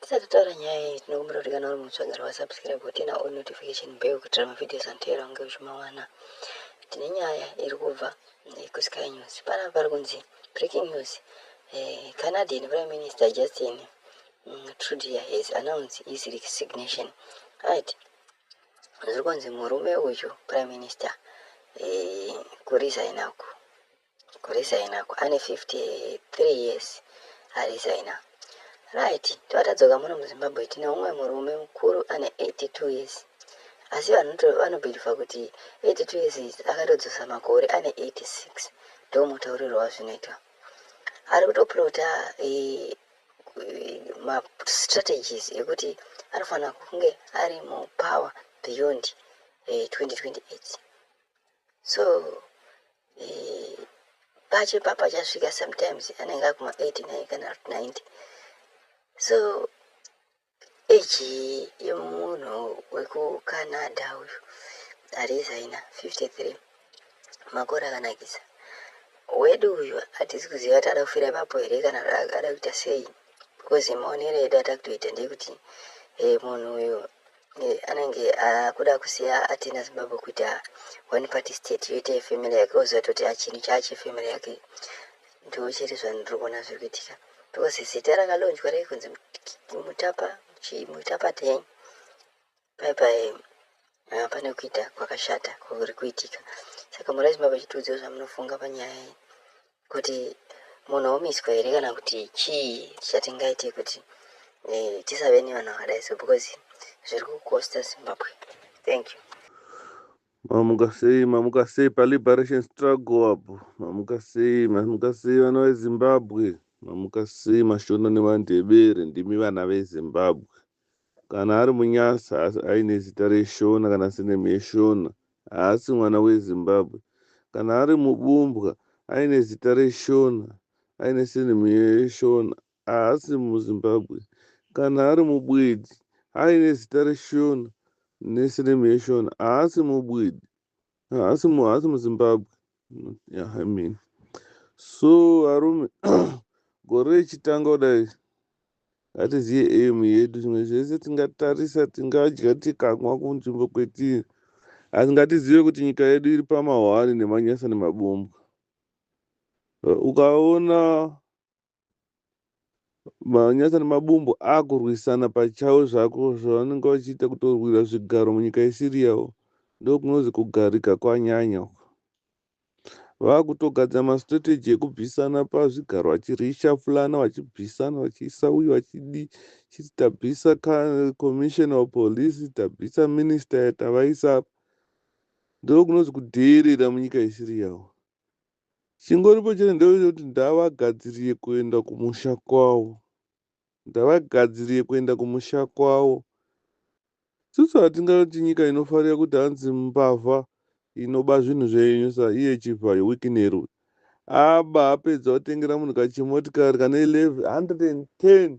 Tisati taura nyaya iyi tinokumbira kuti kana uri mutsva gara wasubscribe wotina all notification bell kuitira mavideos anoteera unge uchimawana. Tine nyaya iri kubva eh, kuSky News. Panapa pari kunzi breaking news. Eh, Canadian Prime Minister Justin mm, Trudeau has announced his resignation. Right. Zviri kunzi murume uyu Prime Minister eh, kurisaina uku. Kuresign ako ane 53 years aresigner right tova tadzoka muno muzimbabwe tine umwe murume mukuru ane 82 years asi vanhu vanobhilivha kuti 82 years izi akatodzosa makore ane 86 ndo mutauriro wazvinoitwa ari kutoplota eh, mastrategies ekuti anofanira kunge ari mupower beyond 2028 eh, so pacho ipapo achasvika sometimes anenge akuma 89 kana 90 so eji yemunhu wekucanada uyu arizaina 53 makore akanakisa wedu uyu hatisi kuziva kuti ada kufira ipapo here kana ada kuita sei because maonero edu atakutoita ndekuti hey, eh, munhu uyu anenge akuda kusiya atina zimbabwe kuita one party state yoita yefamily yake oziva toti achinhu chaache family yake ndiwo chete zvanhu ndiri kuona zviri kuitika because zita rakalonjwa rei kunzi mutapa mutapa dei pai pai ah, pane kuita kwakashata kuri kuitika saka murai zimbabwe chitiudziwo zvamunofunga panyaya iyi kuti munhu omiswa here kana kuti chii chatingaite kuti eh, tisave nevanhu vakadai so because zviri kukosta zimbabwe thank you mamuka sei mamuka sei paliberation struggle apo mamuka sei mamuka sei vana vezimbabwe mamuka sei mashona nemandebere ndimi vana vezimbabwe Kana ari muNyasa asi aine zita reShona kana surname yeShona haasi mwana weZimbabwe. Kana ari muBumbwa aine zita reShona aine surname yeShona haasi muZimbabwe. Kana ari muBwidi aine zita reShona nesurname yeShona haasi muBwidi. haasi mu haasi muzimbabwe yeah, i mean so arume gore rechitanga kudai hatiziye aim yedu zvimwe zvese tingatarisa tingadya tikamwa kunzvimbo kwetiri asi ngatizive kuti nyika yedu iri pamahwani nemanyasa nemabombwa ukaona Manyasa nemabumbu akurwisana pachawo zvako zvavanenge vachiita kutorwira zvigaro munyika yesiriyawo ndokunozi kugarika kwanyanya uko vakutogadzira mastrategy ekubvisana pazvigaro vachirishaplana vachibvisana vachiisa uyu vachidi chiti tabvisa commissioner wepolice tabvisa minister tavaisa apa ndokunozi kudheerera munyika yesiriyawo Chingoripo chete ndechekuti ndavagadzirie kuenda kumusha kwavo. Ndavagadzirie kuenda kumusha kwavo. Isusu hatingaiti nyika inofarira kuti hanzi mbavha inoba zvinhu zvenyu sa iye Chivhayo Wicknell uyu. Aba apedza otengera munhu kachimotikari kane 110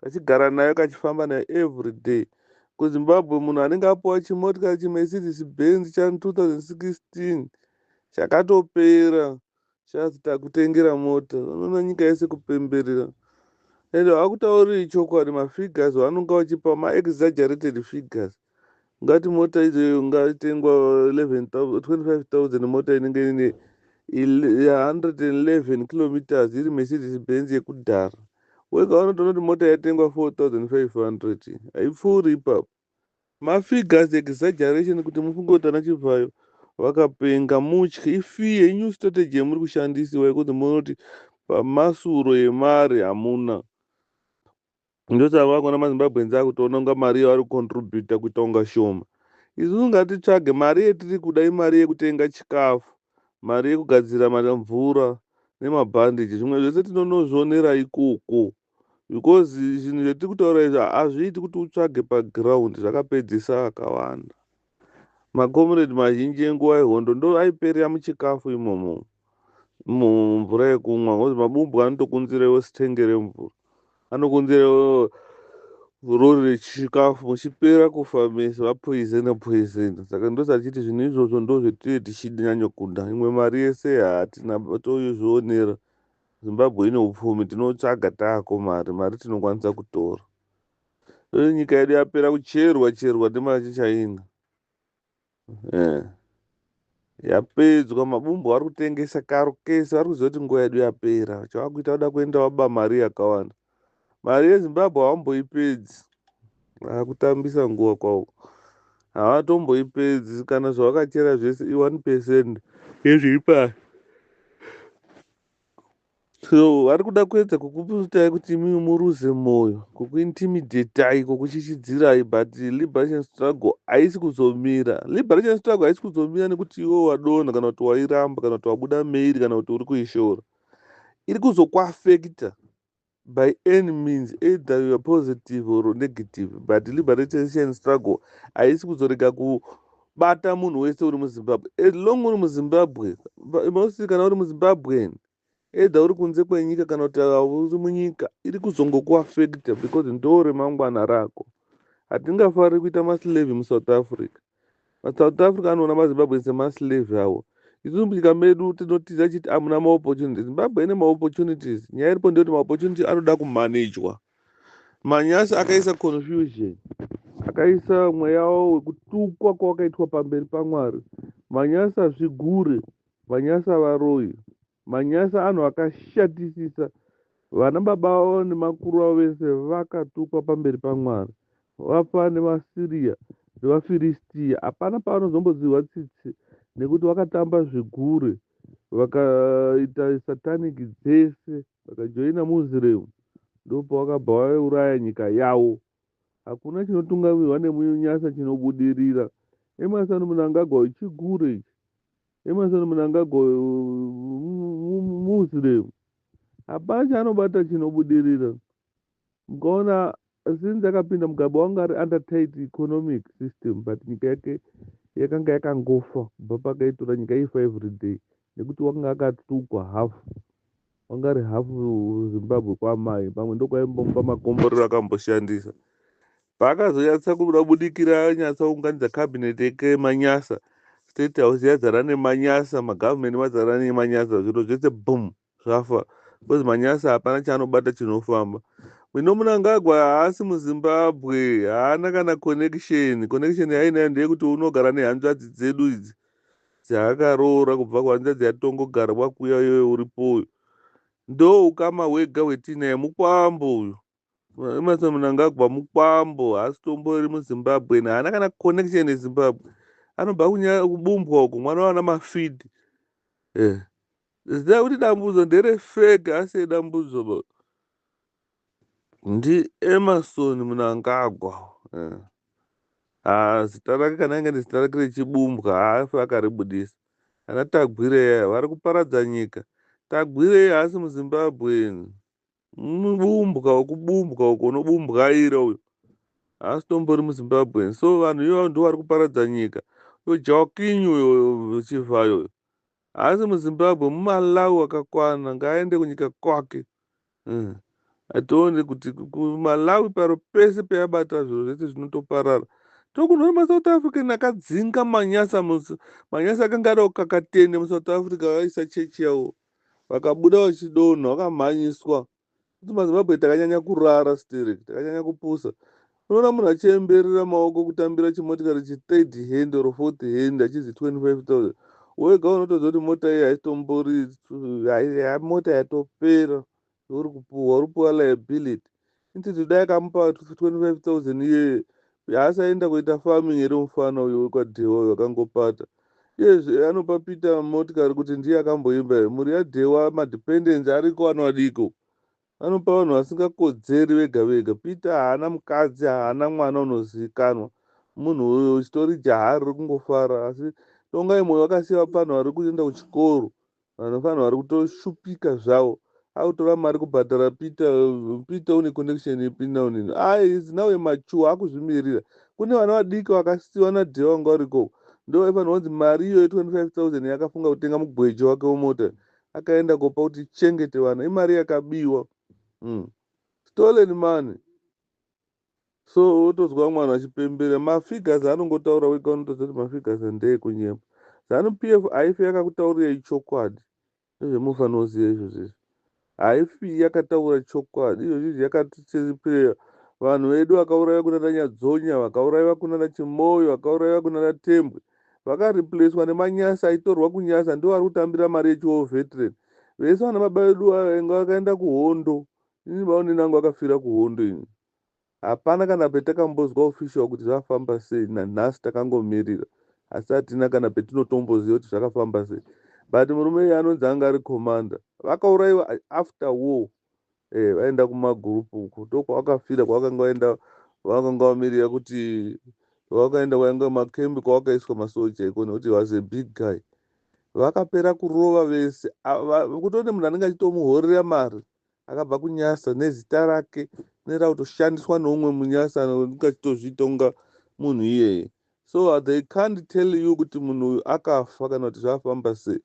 kachigara nayo kachifamba nayo everyday kuzimbabwe munhu anenge apuwa chimotikari chimercedes benz cha 2016 chakatopera chazi takutengera mota unoona nyika yese kupemberera and hakutauriri chokwadi mafigures vanonga vachipa maexaggerated figures ngati mota izoyo ngatengwa 25000 mota inenge ine 111 kilometers iri mercedes benz yekudhara wega wanotoona kuti mota yatengwa 4500 haipfuuri ipapo mafigures exaggeration kuti mufunge kuti ana chivhayo vakapenga mutye ifee inew strategy yemuri kushandisiwa yekuti munoti pamasuro yemari hamuna Ndosaka vakuona maZimbabweans akutoona kunga mari yavari kucontributa kuita kunga shoma. Isusu ngatitsvage mari yetiri kuda imari yekutenga chikafu, mari yekugadzira mvura nemabhandage zvimwe zvese tinonozvionera ikoko because zvinhu zvetiri kutaura izvi hazviiti kuti utsvage paground zvakapedzesa vakawanda. Makomiredi mazhinji enguva yehondo ndo aiperera muchikafu imomo mumvura yekumwa ngozi mabumbwa anotokunzira iwo sitenge remvura anokunzira iwo rori rechikafu muchipera kufa mese vapoizena poizena saka ndosachiti zvinhu izvozvo ndo zvetee tichinyanyokunda imwe mari yese hatina toizvionera zimbabwe ine upfumi tinotsvaga taako mari mari tinokwanisa kutora Uye nyika yedu yapera kucherwa cherwa nemachichina eh. Yapedzwa mabumbu vari kutengesa karo kese vari kuziva kuti nguva yedu yapera chavakuita kuda kuenda waba mari yakawanda mari yezimbabwe havamboipedzi vakutambisa nguva kwavo havatomboipedzi kana zvavakachera zvese i1 percent yezviri pasi So vari kuda kuedza kukuputai kuti imi muruze moyo, kukuintimidatai, kukuchichidzirai but liberation struggle haisi kuzomira. Liberation struggle haisi kuzomira nekuti iwe wadonha kana kuti wairamba kana kuti wabuda mairi kana kuti uri kuishora. Iri kuzokuafekita by any means either youare positive or negative but liberation struggle haisi kuzorega ku bata munhu wese uri muzimbabwe as long uri muzimbabwe mostly kana uri muzimbabwen either uri kunze kwenyika kana kuti uri munyika iri kuzongokuafekta because ndo remangwana rako hatingafariri kuita maslave musouth africa masouth africa anoona mazimbabwen semaslave awo isu munyika medu tinotiza chiti amuna maopportunities zimbabwe ine maopportunities nyaya iripo ndeyoti maopportunity anoda kumanejwa manyasi akaisa confusion akaisa mweya wawo wekutukwa kwawakaitwa pamberi pamwari manyasi azvigure manyasi avaroyi manyasi anhu akashatisisa vana baba vavo nemakuru vavo vese vakatukwa pamberi pamwari vafa nemasiriya nevafiristiya hapana pavanozombodzihwa tsitsi nekuti vakatamba zvigure vakaita satanic dzese Vakajoina Muslim ndopavakabva vauraya nyika yavo. Hakuna chinotungamirwa nemunyasa chinobudirira. Emerson Mnangagwa chigure ichi. Emerson Mnangagwa Muslim. Hapana chaanobata chinobudirira. mukaona since akapinda mugabe wanga ari under tight economic system but nyika yake yakanga yakangofa kubva pakaitora nyika ifa every day nekuti wanga akatukwa hafu wanga ari hafu zimbabwe kwamai pamwe ndokwaimbomba makomborero akamboshandisa paakazonyatsa kuda budikira anyatsa kuunganidza cabinet yake manyasa state house yazara nemanyasa magovernment mazara nemanyasa zviro zvese boom Zvafa because manyasa hapana chaanobata chinofamba. Mino Munangagwa haasi muZimbabwe, haana kana connection. Connection yaainayo ndeyekuti unogara nehanzvadzi dzedu idzi dzaakaroora kubva kuhanzvadzi yatongogara kwakuya iyoyo uripo uyu. Ndoukama hwega hwetiinaye, mukwambo uyu. Emerson Mnangagwa mukwambo haasi tombori muzimbabwe haana kana connection nezimbabwe anobva kubumbwa uko mwana wana mafidi eh. zida kuti dambudzo ndere fake asi dambudzo ndi emerson mnangagwa eh. ah, zita rake kana inge nezita rake rechibumbwa haafi akaribudisa ana tagwireya vari kuparadza nyika tagwireya haasi muzimbabweni mubumbwa wekubumbwa uko unobumbwaira uyo haasi tombori muzimbabwean so vanhu ivavo ndo vari kuparadza nyika uyo jawking uyo chivhayo uyo haasi muzimbabwe mumalawi wakakwana ngaaende kunyika kwake mm. atione kuti kumalawi paro pese peyabata zviro zvese zvinotoparara tokunwa masouth african akadzinga manyasa manyasa akanga ada kukakatende musouth africa vaisa chechi yavo Vakabuda vachidonha vakamhanyiswa kuti mazimbabwe takanyanya kurara sterek takanyanya kupusa unoona munhu achiyemberera maoko kutambira chimotikari chithird hand or fourth hand achizi 25000 wega unotoziva kuti mota iyi haitombori mota yatopera Uri kupuhwa uri puhwa liability. Inti dai kamupa 25000 iyeye haasaenda kuita farming here mufana uyo wekwadhewa uyo akangopata iyezve anopa peter motikari kuti ndiye akamboimba here mhuri yadhewa madependency ariko anoadiko anopa vanhu vasingakodzeri vega vega peter haana mukadzi haana mwana unozivikanwa munhu uyo uchitori jahari rikungofara asi tongai moyo vakasiya vapanhu vari kuenda kuchikoro Vanofanirwa vari kutoshupika zvawo akutora mari kubhadhara peter peter une connection ipi now nini ah is now a mature akuzvimirira kune vana vadiki vakasiwa nadhee wanga uriko ndo vaifanirwa kunzi mari iyoyo 25000 yakafunga kutenga mugweje wake wemota akaenda kopa kuti chengete vana imari yakabiwa mm. stolen money so wotozwa mwana achipembera mafigures anongotaura wega unotoziva kuti mafigures ndeekunyema zanu p f haifi yakakutaurirai chokwadi nezvemufanoziva izvozvo izvi haifi yakataura chokwadi izvozvo izvi yakatichiripireya vanhu vedu vakauraiva kuna nanyadzonya vakauraiva kuna nachimoyo vakauraiva kuna natembwe vakariplacwa nemanyasi aitorwa kunyasa ndiwo ari kutambira mari yechiwo veteran vese vana baba vedu vainge vakaenda kuhondo Ini maonini angu akafira kuhondo ini hapana kana petakambozwa official kuti zvafamba sei nanhasi takangomirira asi hatina kana petinotomboziva kuti zvakafamba sei but murume iye anonzi anga ari commander vakauraiwa after war eh, vaenda kumagroup uko ndokwavakafira kwavakanga vaenda vakanga vamirira kuti vakaenda kwainge makembi kwavakaiswa masoja iko nekuti was a big guy vakapera kurova vese kutone munhu anenge achitomuhorera mari akabva kunyasa nezita rake rinoita kutoshandiswa neumwe munyasa anonga achitozviita kunga munhu iyeye so they can't tell you kuti munhu uyu akafa kana kuti zvafamba sei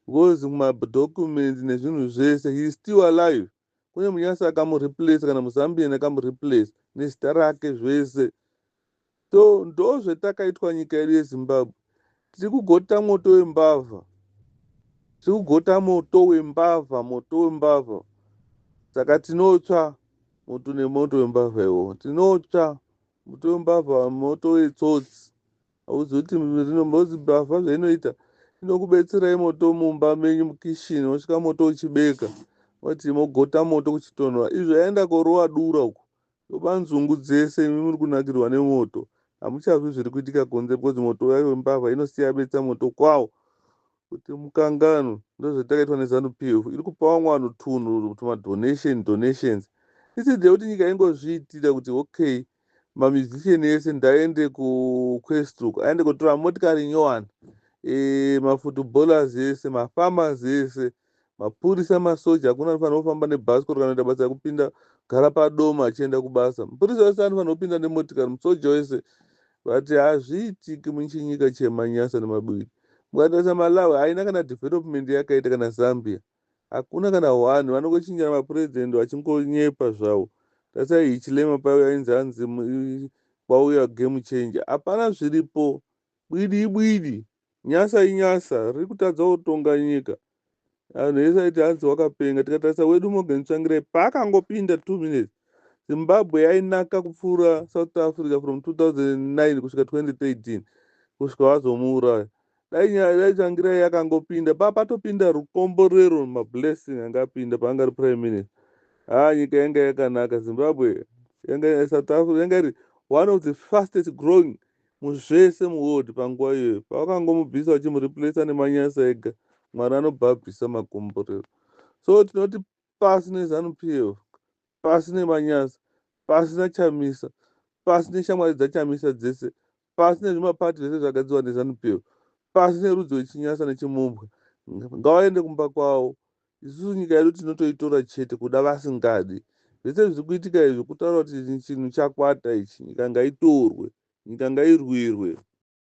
because madocuments nezvinhu zvese he is still alive kune munyasa akamureplace kana muzambian akamureplace nezita rake zvese So ndozvetakaitwa nyika yedu yezimbabwe tiri kugota moto wembavha tiri kugota moto wembavha moto wembavha saka tinotsva moto nemoto wembavha iwo tinotsva moto wembavha moto wetsotsi hauzoti rinombozi mbavha zvainoita inokubetserai moto mumba menyu mukishini wosvika moto uchibeka wati mogota moto kuchitonhora izvo yaenda korowa dura uku Baba nzungu dzese imi muri kunakirwa nemoto hamuchazwi zviri kuitika kunze because moto uya wembavha inosiya betsa moto kwawo kuti mukanganwe ndozvatakaitwa nezanu pf iri kupa vamwe vanhu tunhu tumadonation donations instead yekuti nyika ingozviitira kuti okay mamusician ese ndaende kuquestrook aende kotora motikari nyowani e, mafootballers ese mafarmers ese Mapurisa masoja hakuna anofanira kufamba nebhasikoro kana kuita basa rekupinda gara padoma achienda kubasa. Mupurisa wese anofanira kupinda nemotikari, musoja wese. Vati hazviitiki muchinyika chemanyasa nemabwiri. Mukatarisa Malawi haina kana development yakaita kana Zambia. Hakuna kana one. Vanongochinjana mapresident vachingonyepa zvawo. Tarisai Hichilema paiuya ainzi hanzi kwauya game changer. Hapana zviripo. Bwidi ibwidi. Nyasa inyasa riri kutadzawo kutonga nyika. Anhu ese aiti hanzi wakapenga. Tikatarisa wedu Morgan Tsvangirai paakangopinda two minutes Zimbabwe yainaka kupfuura South Africa from 2009 kusvika 2013 kusvika wazomuuraya. Dai nyaya dai Tsvangirai yakangopinda pa patopinda rukomborero mablessing anga apinda paanga ari prime minister. Haa nyika yanga yakanaka Zimbabwe yanga South Africa yanga iri one of the fastest growing Muzvese muworld panguva iyoyo pavakangomubvisa vachimureplacer neManyasa ega Mwari anobva abvisa makomborero so tinoti pasi neZanu PF pasi neManyasa pasi naChamisa pasi neshamwari dzaChamisa dzese pasi nezvimaparty zvese zvagadzirwa neZanu PF pasi nerudzi rweChinyasa neChimumbwa ngawaende kumba kwawo Isusu nyika yedu tinotoitora chete kuda vasingadi. Zvese zviri kuitika izvi kutaura kuti chinhu chakwata ichi. Nyika ngaitorwe. Nyika ngairwirwe.